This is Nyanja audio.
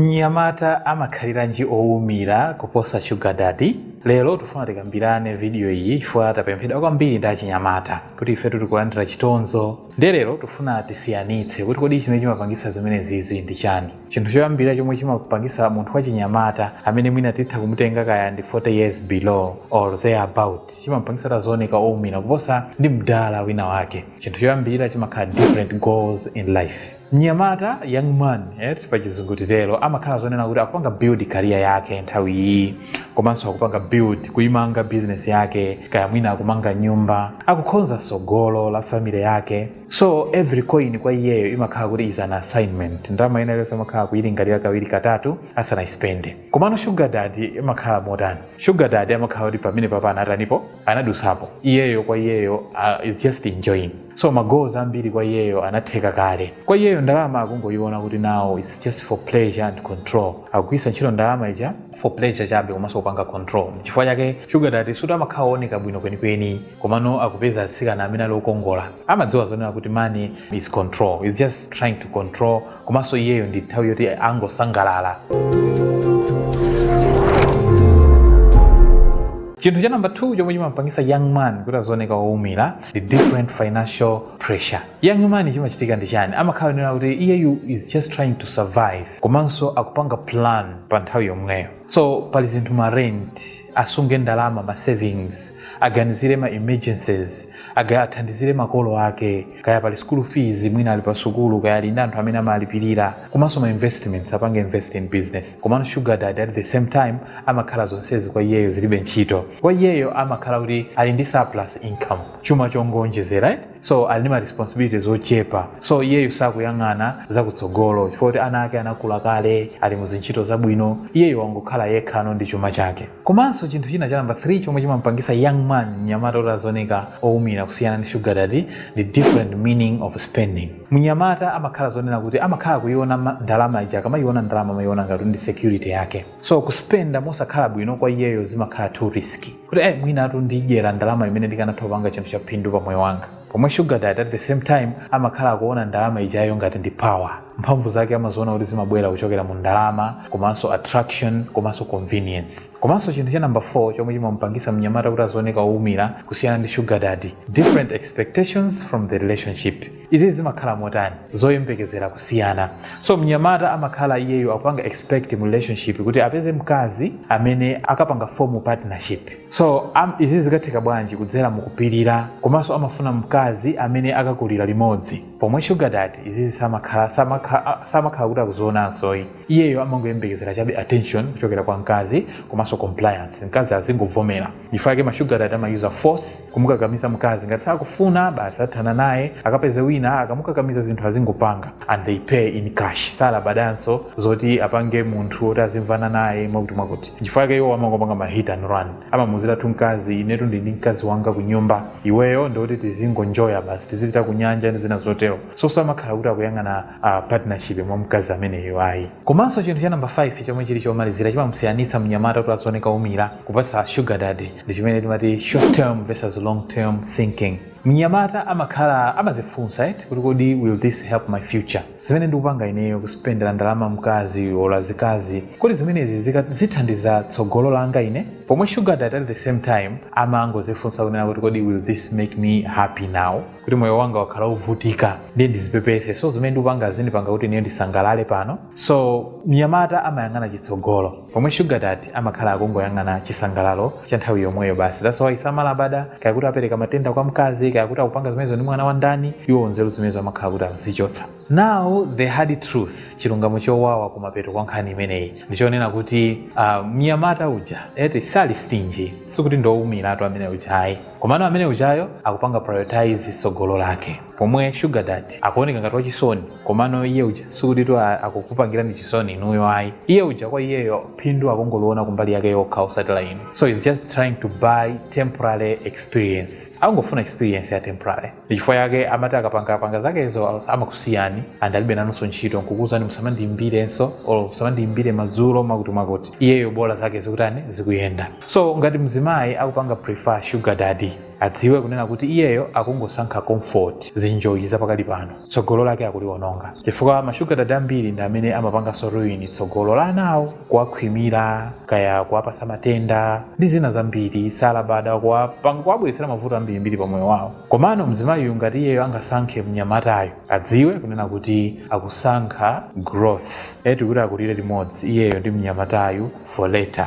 Mnyamata amakhaliranji owumira kuposa shuga dadi? Lero tufuna tikambirane video iyi chifukwa tapemphedwa kwambiri ndi achinyamata kuti ifetu tikulandira chitonzo ndiye lero tufuna tisiyanitse kuti kodi chimene chimapangisa zimenezizi ndi chani? Chinthu choyambirira chomwe chimapangisa munthu wachinyamata amene mwina titha kumutenga kaya ndi 40 years below or there about chimampangisa kuti aziwoneka owumira kuposa ndi mdala wina wake chinthu choyambirira chimakhala different goals in life. Mnyamata, young man, eti, pa chizungu titero, amakhala zonena kuti akupanga build career yake nthawi iyi, komanso akupanga build, kuimanga business yake, kaya mwina akumanga nyumba, akukhonza sogolo la family yake. So every coin kwa iyeyo imakhala kuti is an assignment. Ndalama ina iliyonse amakhala akuilingalira kawiri katatu asanayispende. Komano sugar daddy amakhala motani? Sugar daddy amakhala kuti pamenepapa anatanipo, anadusapo. Iyeyo kwa iyeyo uh, he's just enjoying. so ma goals ambiri kwa iyeyo anatheka kale kwa iyeyo ndalama akungoyiona kuti now its just for pleasure and control akugwiritsa ntchito ndalama ija for pleasure chabe komanso kupanga control chifukwa chake sugar daddy suti amakhala ooneka bwino kwenikweni komano akupeza atsikana amene ali okongola amadziwa zonena kuti money is control he's just trying to control komanso iyeyo ndi nthawi yoti angosangalala chinthu cha namba 2 chomwe chimampangisa young man kuti azioneka woumira the different financial pressure young man chimachitika ndi chani amakhala zonena kuti iyeyu is just trying to survive komanso akupanga plan pa nthawi yomweyo so pali zinthu ma rent asunge ndalama ma savings aganizire ma emergencies aga athandizire makolo ake kaya pali school fees mwina ali pa sukulu kaya ali ndi anthu amene amalipirira komanso ma investments apange invest in business Komano sugar daddy at the same time amakhala zonsezi kwa iyeyo zilibe ntchito. Kwa iyeyo amakhala kuti ali ndi surplus income, chuma chongoonjezera eti. So ali ndi ma responsibilities ochepa. So iyeyo sakuyang'ana za kutsogolo chifukwa kuti ana ake anakula kale, ali mu zintchito zabwino. Iyeyo wangokhala yekhano ndi chuma chake. Komanso chinthu china cha number 3 chomwe chimampangisa young man, mnyamata kuti azioneka oumira kusiyana ndi sugar daddy the different meaning of spending. mnyamata amakhala zonena kuti amakhala kuiona ma- ndalama ija akamaiona ndalama amaiona ngati ndi security yake so kuspenda mosakhala bwino kwa iyeyo zimakhala too risky kuti eh, mwinatu ndidyera ndalama imene ndikanatha kupanga chinthu cha phindu pa moyo wanga pomwe sugar daddy at the same time amakhala akuona ndalama ijayo ngati ndi power mphamvu zake amaziona kuti zimabwera kuchokera mu ndalama komanso attraction komanso convenience komanso chinthu cha number 4 chomwe chimamupangisa mnyamata kuti azioneka owumira kusiyana ndi sugar daddy different expectations from the relationship izizi zimakhala motani zoyembekezera kusiyana so mnyamata amakhala iyeyo akupanga expect mu relationship kuti apeze mkazi amene akapanga form partnership so am, izi zikatheka bwanji kudzera mukupirira komanso amafuna mkazi amene akakulira limodzi pomwe sugar daddy izizi samakhala samakha- samakhala kuti akuzionanso ayi iyeyo amangoyembekezera chabe attention kuchokera kwa mkazi komanso compliance mkazi azingovomera n'chifukwa chake ma sugar daddy amayuza force kumukakamiza mkazi ngati sakufuna basi athana naye akapeze wina akamukakamiza zinthu azingopanga and they pay in cash salabadanso zoti apange munthu oti azimvana naye mwakuti mwakuti n'chifukwa chake iwo amangopanga ma hit and run amamuziratu mkazi inetu ndi ndi mkazi wanga ku nyumba iweyo ndi woti tizingonjoya basi tizipita ku nyanja ndi zina zotero so samakhala kuti akuyang'ana partnership mwa mkazi ameneyo ayi komanso chinthu cha namba 5 chomwe chili chomalizira chimamusiyanitsa mnyamata kuti azioneka oumira kuposa sugar daddy ndi chimene timati short term versus long term thinking mnyamata amakhala amazifunsa kuti kodi will this help my future zimene ndikupanga ineyo kuspendera ndalama mkazi or zikazi kodi zimenezi zithandiza tsogolo langa ine pomwe sugar daddy at the same time amangozifunsa kunena kuti kodi will this make me happy now kuti moyo wanga wakhala wovutika ndiye ndizipepese so zimene ndikupanga zindipanga kuti ineyo ndisangalale pano so mnyamata amayang'ana chitsogolo pomwe sugar daddy amakhala akungoyang'ana chisangalalo cha nthawi yomweyo basi that's why samalabada kaya kuti apereka matenda kwa mkazi kaya kuti akupanga zimenezo ndi mwana wa ndani iwo nzeru zimenezo amakhala kuti akuzichotsa now the hard truth chilungamo chowawa kumapeto kwa nkhani imeneyi ndichonena kuti mnyamata uja sali stingy sikuti ndi woumiratu amene uja ayi komano amene ujayo akupanga prioritize tsogolo lake pomwe sugar daddy akuoneka ngati wachisoni komano iye uja sikutitu akukupangirani chisoni inuyo ayi iye uja kwa iyeyo phindu akungoliona kumbali yake yokha osati la inu so he's just trying to buy temporary experience akungofuna experience ya temporary ndi chifukwa chake amati akapangapanga zakezo amakusiyani and alibe nanunso ntchito nkukuuzani musamandiyimbirenso or musamandiyimbire madzulo mwakuti mwakuti iyeyo bola zake zikutani zikuyenda So ngati mzimayi akupanga prefer sugar daddy adziwe kunena kuti iyeyo akungosankha comfort, zinjoyi zapakali pano, tsogolo lake akuliwononga chifukwa ma sugar daddy ambiri ndi amene amapanganso ruin tsogolo la anawo kuwakhwimira kaya kuwapatsa matenda ndi zina zambiri salabada kuwabweretsera mavuto ambirimbiri pa moyo wawo komano mzimayiyu ngati iyeyo angasankhe mnyamatayo adziwe kunena kuti akusankha growth eti kuti akulire limodzi iyeyo ndi mnyamatayu for later.